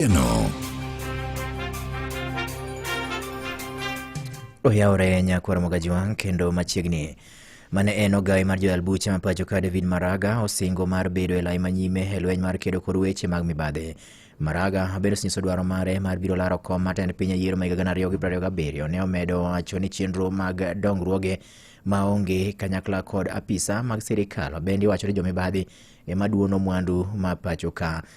Eno. Oyawore nyakwar Mogajwang' kendo machiegni mane en ogawe mar joyal buche ma pacho ka David Maraga osingo mar bedo e lai manyime e lweny mar kedo kod weche mag mibadhi. Maraga bende osenyiso dwaro mare mar biro laro kom mar tend piny e yiero ma higa gana ariyo gi piero ariyo gabiriyo. Ne omedo wacho ni chenro mag dongruoge ma onge kanyakla kod apisa mag sirikal bende iwacho ni jomibadhi ema duono mwandu ma pacho ka.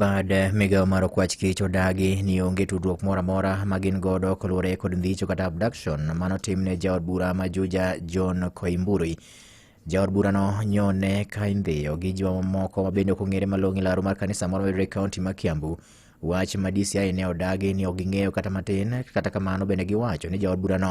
bad migawo mar okwach kich odagi ni onge tudruok moro amora ma gin godo koluwore kod ndhicho kata abduction mano tim ne jaod bura ma juja john koimburi jaod burano nyone ka indhiyo gi ji mamoko ma bende ok ong'ere malong'o e laro mar kanisa moro mayudore e kaonti ma kiambu wach ma dci ne odagi ni ok ging'eyo kata matin kata kamano bende giwacho ni jaod burano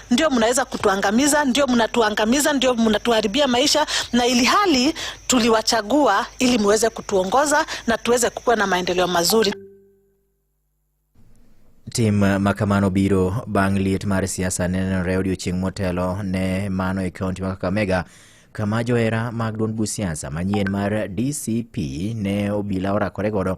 ndio mnaweza kutuangamiza, ndio mnatuangamiza, ndio mnatuharibia maisha, na ili hali tuliwachagua ili muweze kutuongoza na tuweze kukuwa na maendeleo mazuri. Tim makamano biro bang' liet mar siasa nenore odiochieng' motelo ne mano e kaunti ma Kakamega kama johera mag duond busiasa manyien mar DCP ne obila orakore godo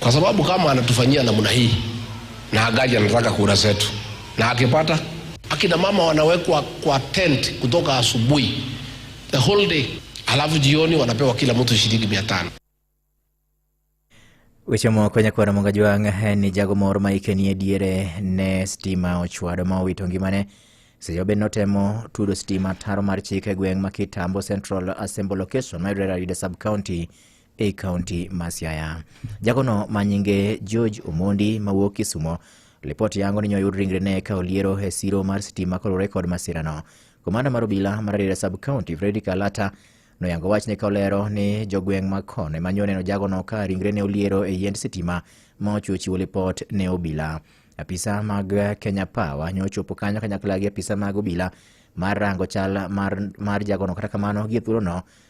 kwa sababu kama anatufanyia namna hii na agaji anataka kura zetu, na akipata akina mama wanawekwa kwa tent kutoka asubuhi the whole day, alafu jioni wanapewa kila mtu shilingi mia tano. Weche moko nyakwar Monga Jwang' eh, ni jago moro ma hike nie diere ne stima ochwado ma owito ngimane seche ma bende notemo tudo stima taro mar chik e gweng' ma Kitambo Central Assembly Location mayudore Rarieda Sub County ei kaunti ma Siaya. Jagono ma nyinge George Omondi mawuok Kisumo lipoti yango ni nyoyud ringrene ka oliero e siro mar sitima kolure kod masirano. Komanda mar obila mar Rarieda sub county Fredrick Alata noyango wachne ka olero ni jogweng' mag Kon ema nyo neno jagono ka ringrene oliero e yiend sitima ma ochuo chiwo lipot ne obila. Apisa mag Kenya Power nyo ochopo kanyo kanyakla gi apisa mag obila mar rango chal mar, mar jagono kata kamano gie thuolono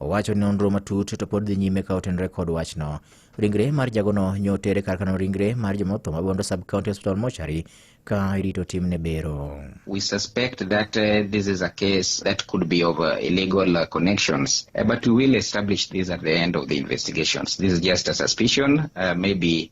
Owacho ni nonro matut to pod dhi nyime ka otenore kod wachno. Ringre mar jagono nyo tere kar kano ringre mar jomotho ma Bondo Sub County Hospital Mochari ka irito timne bero. We suspect that uh, this is a case that could be of uh, illegal uh, connections, uh, but we will establish this at the end of the investigations. This is just a suspicion. Uh, maybe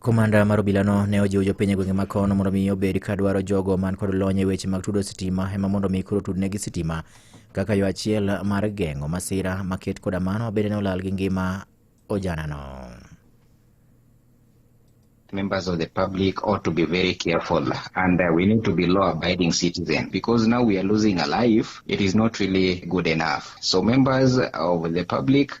Komanda mar obilano ne ojiwo jopiny e gwenge ma kono mondo mi obed ka dwaro jogo man kod lony e weche mag tudo sitima ema mondo mi koro tudnegi sitima kaka yo achiel mar geng'o masira maket koda mano bende ne olal gi ngima ojanano. members of the public ought to be very careful and uh, we need to be law abiding citizens because now we are losing a life it is not really good enough so members of the public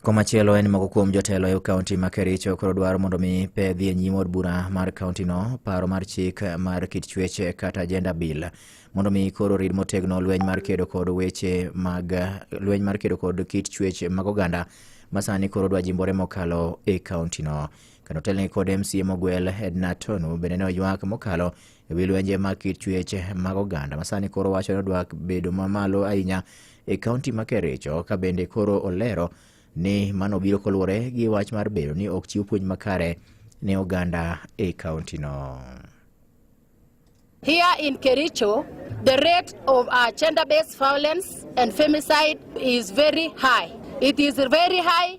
Komachielo en moko kuom jotelo e kaunti ma Kericho koro dwaro mondo mi pe dhi e nyim od bura mar kaunti no paro mar chik mar kit chuech kata gender bill mondo mi koro rid motegno lweny mar kedo kod weche mag lweny mar kedo kod kit chuech mag oganda masani koro dwa jimbore mokalo e kaunti no. Kano telni kod MCA mogwel Edna Tonu bende ne oywak mokalo e wi lwenje mag kit chuech mag oganda masani koro wacho ni odwa bedo mamalo ahinya e kaunti ma Kericho ka bende koro olero ni mano biro koluwore gi wach mar bedo ni ok chiw puonj makare ne oganda e kauntino. Here in Kericho, the rate of uh, gender-based violence and femicide is very high. It is very high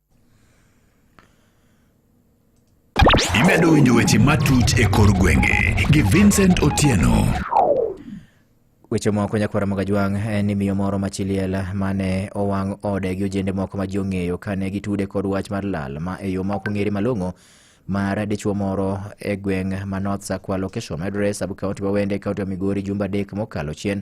Imedo winjo weche matut e kor gwenge gi Vincent Otieno. Weche moko nyakwara mag ajwang' en ni miyo moro machiliel mane owang' ode gi ojende moko ma ji ong'eyo kane gitude kod wach mar lal ma e yo ma ok ong'ere malong'o mar dichwo moro e gweng' ma North Sakwa location mayudore e sub county ma Wende e county ma Migori jumbe adek mokalo chien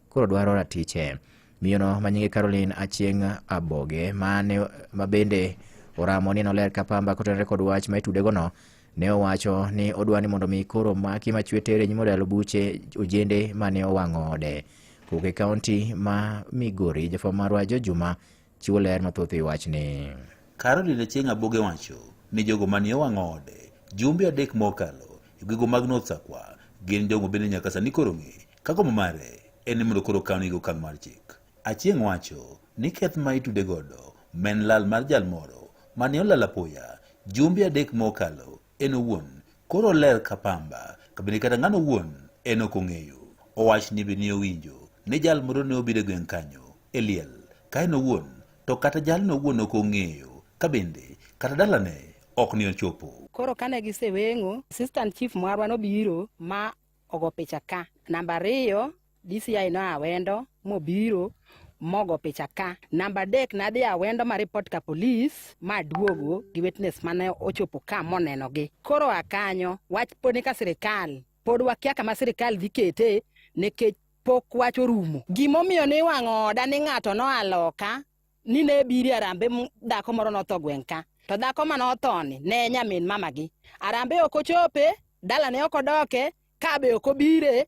koro dwaro ratiche. Miyono ma nyinge Caroline Achieng' Aboge ma ne ma bende oramo ni noler ka pamba kotenore kod wach ma itudegono ne owacho ni odwa ni mondo mi koro maki machwe tere nyimo dalo buche ojende ma ne owang'o ode. Kowuok e kaunti ma Migori, jafwambo marwa Jo Juma chiwo ler mathoth e wachni. Caroline Achieng' Aboge wacho ni jogo ma ne owang'o ode jumbe adek mokalo e gwego mag North Sakwa gin jogo bende nyaka sani koro ng'e Kagombo mare en ni mondo koro kawni gi okang' mar chik. Achieng' wacho ni keth ma itude godo ma en lal mar jal moro mane olal apoya jumbe adek mokalo en owuon koro oler ka pamba kabende kata ng'ano owuon en ok ong'eyo. Owach ni be ne owinjo ni jal moro ne obiro e gweng' kanyo e liel ka en owuon to kata jalno owuon ok ong'eyo kabende kata dalane ok ne ochopo. Koro kane giseweng'o, assistant chief marwa nobiro ma ogo picha ka. Namba ariyo DCI no awendo mobiro mogo picha ka. Namba adek nadhi awendo ma report ka polis ma duogo gi witness mane ochopo ka monenogi. Koro akanyo wach pod ni ka sirikal pod wakia kama sirikal dhi kete nikech pok wach orumo. Gimomiyo niwang'o oda ni ng'ato noa loka ni ne ebiri arambe m dhako moro notho gweng' ka to dhako ma nothoni ne en nyamin mama gi arambe ok ochope dala ne ok odoke ka be ok obire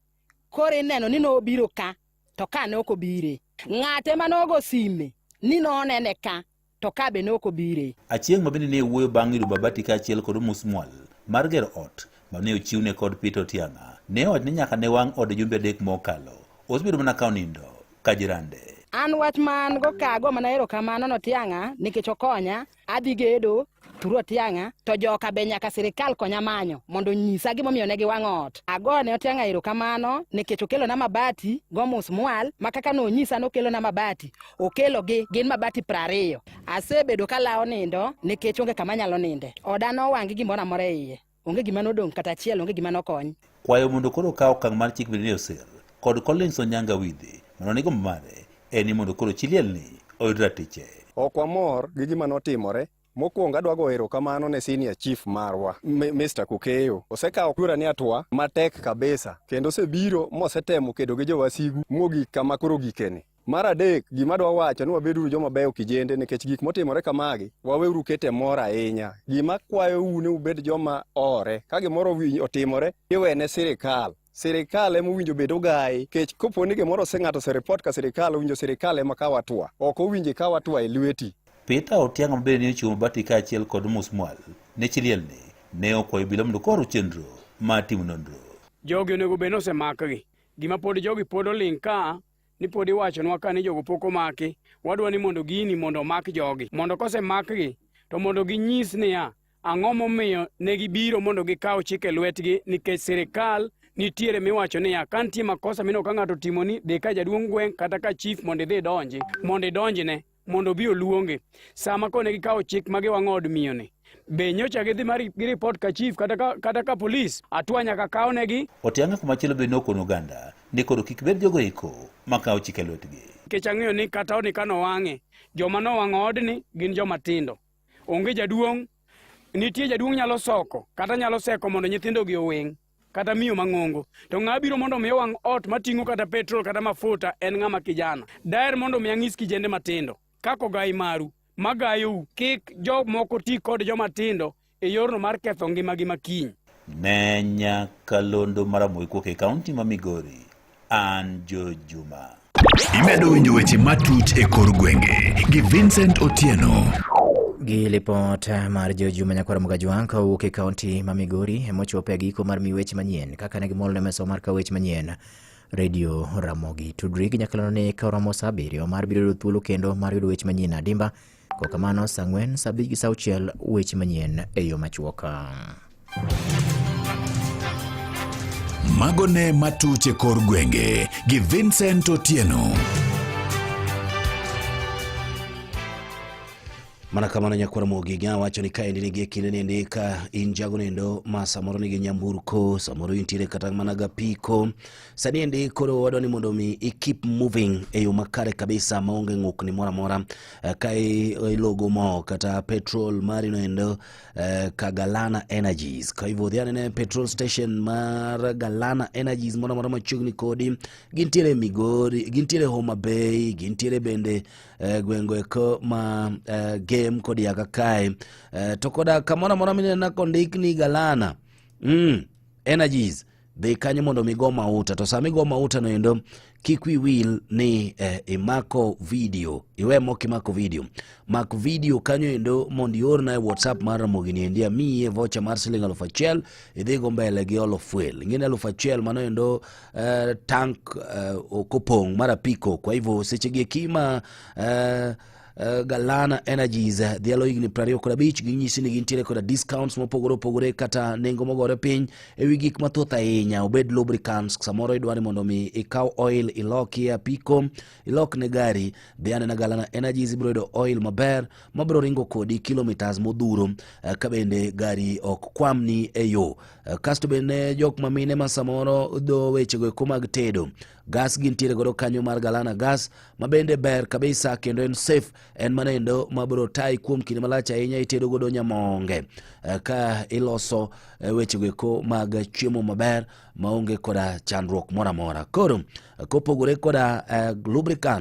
koro ineno ni nobiro ka to ka ne ok obire ng'ate ma nogo sime ni nonene ka to ka be ne ok obire Achieng' ma bende ne wuoyo bang' yudo Babati kaachiel kod omusmual mar gero ot ma ne ochiwne kod Peter Otiang'a ne owacho ni nyaka ne wang' ode jumbe adek mokalo. Osebedo mana ka onindo. Kajirande. An wach man go kago mana ero kamano no tianga nikech okonya adhi gedo turo tianga to joka be nyaka sirikal konya manyo mondo nyisa gi momiyo ne gi wang ot ago ne otianga ero kamano nikech okelo na mabati go mus mwal makaka no nyisa no kelo na mabati okelo gi gin mabati prariyo asebedo ka lawo nindo nikech onge kama nyalo ninde oda no wangi gimora mora iye Onge gima nodong' kata achiel, onge gima nokony. Kwayo mondo koro okaw okang' mar chik Virginia Osir kod Collins Onyanga Wide mondo ni gombo mare en ni mondo koro chi lielni oyud ratiche. Ok wamor gi gima notimore. Mokwongo adwa goyo erokamano ne senior chief marwa Mi- Mr. Kukeyo. Osekawo kura ni atwa matek kabisa kendo osebiro mosetemo kedo gi jowasigu mogik kama koro gikeni. Mar adek, gima dwa wacho ni wabeduru joma beyo kijende nikech gik motimore kamagi, waweuru kete mor ahinya. Gima kwayou ni ubed joma ore, ka gimoro wi- otimore, iwene sirikal. Sirikal ema owinjo bed ogayi, kech kopo ni gimoro ose ng'ato oseripot ka sirikal, owinjo sirikal ema kaw atua. Ok owinjo ikaw atua e lweti. Peter Otiang' ma bende ne ochiwo mabati kaachiel kod musmwal ne chilielni ne okwayo obila mondo koro chenro mar timo nonro. Jogi onego bed ni osemakgi. Gima pod jogi pod oling' ka ni pod iwachonwa ka ni jogo pok omaki wadwa ni mondo gini mondo omak jogi mondo kosemakgi to mondo ginyis niya ang'o momiyo ne gibiro mondo gikaw chik e lwetgi nikech sirikal nitiere miwacho niya ka nitie makosa mineno ka ng'ato otimoni dhi ka jaduong' gweng' kata ka chief mondo idhi idonji mondo idonjne mondo obi oluonge sama kone gikawo chik ma giwang'o od miyoni be nyocha gidhi mar gi ripot ka chief kata ka, kata ka polis atwa nyaka kawnegi otianga kumachielo be nokono oganda ni koro kik bed jogo iko makawo chike lwetgi nikech ang'eyo ni kata odni ka nowang'e joma nowang'o odni gin joma tindo onge jaduong' nitie jaduong' nyalo soko kata nyalo seko mondo nyithindogi oweng' kata miyo mang'ongo to ng'a biro mondo omiye wang' ot mating'o kata petrol kata mafuta en ng'ama kijana daer mondo omi anyis kijende matindo kaka ogai maru magayou kik jomoko ti kod joma tindo e yorno mar ketho ngimagi makiny. Nenya Kalondo Maramoikuok e kaunti ma Migori. an Joe Juma. Imedo winjo weche matut e kor gwenge gi Vincent Otieno. Gi lipot mar Joe Juma nyakwar Mugajwang' ka owuok e kaunti ma Migori emochopo e giko mar miyo weche manyien kaka ne gimol ne mesa mar ka weche manyien redio Ramogi. Tudri gi nyakalano ne ka oromo saa abiriyo mar biro yudo thuolo kendo mar yudo weche manyien adimba Kwa kamano sa ang'wen, sa abich gi sa auchiel weche manyien e yo machuok. Mago ne matuch e kor gwenge gi Vincent Otieno. mana kamano nyakwar mogiga wacho ni ka endi nigi kinde ni endi ka in jago nendo ma samoro nigi nyamburko samoro intiere kata mana gapiko sani endi koro wadwa ni mondo mi i keep moving e yo makare kabisa maonge ng'ukni moro amora Eh, ka i- ilogo mo kata petrol mari no endo eh, ka galana energies kwa hivyo dhi anene petrol station mar galana energies moro amora machiegni kodi gintiere migori gintiere homa bay gintiere bende eh, gwengo eko ma eh, game kod yaga kae eh, to koda kamoro amora minena kondik ni galana mm, energies dhi kanyo mondo mi go mauta to sama igo mauta no endo kik wi wil ni eh, imako video iwe mok imako video mak video kanyo endo mondo iorna e whatsapp mar ramogi ni endi amiye vocha mar siling alufu achiel idhi go mbele gi olo fuel ingine alufu achiel mano endo eh, tank eh, okopong' mar apiko kwa hivyo sechegi ekima eh, Uh, Galana Energies uh, dhialo higni 20 kod abich ginyisi ni gintiere koda discounts mopogore opogore kata nengo mogore piny e wi gik mathoth ahinya obed lubricants samoro idwa ni mondo mi ikaw oil ilok e apiko ilok ne gari dhi anena Galana Energies ibiro yudo oil maber mabiro ringo kodi kilometers modhuro uh, ka bende gari ok kwamni e yo uh, kasto bende jok mamine ma samoro dho wechego eko mag tedo gas gintiere godo kanyo mar galana gas mabende ber kabisa kendo en safe en manendo mabro tayi kuom kinde malach ahinya itedo godo nyamonge eh, ka iloso eh, wechego eko mag chiemo maber maonge koda chandruok moro amora koro kopogore koda eh, lubricants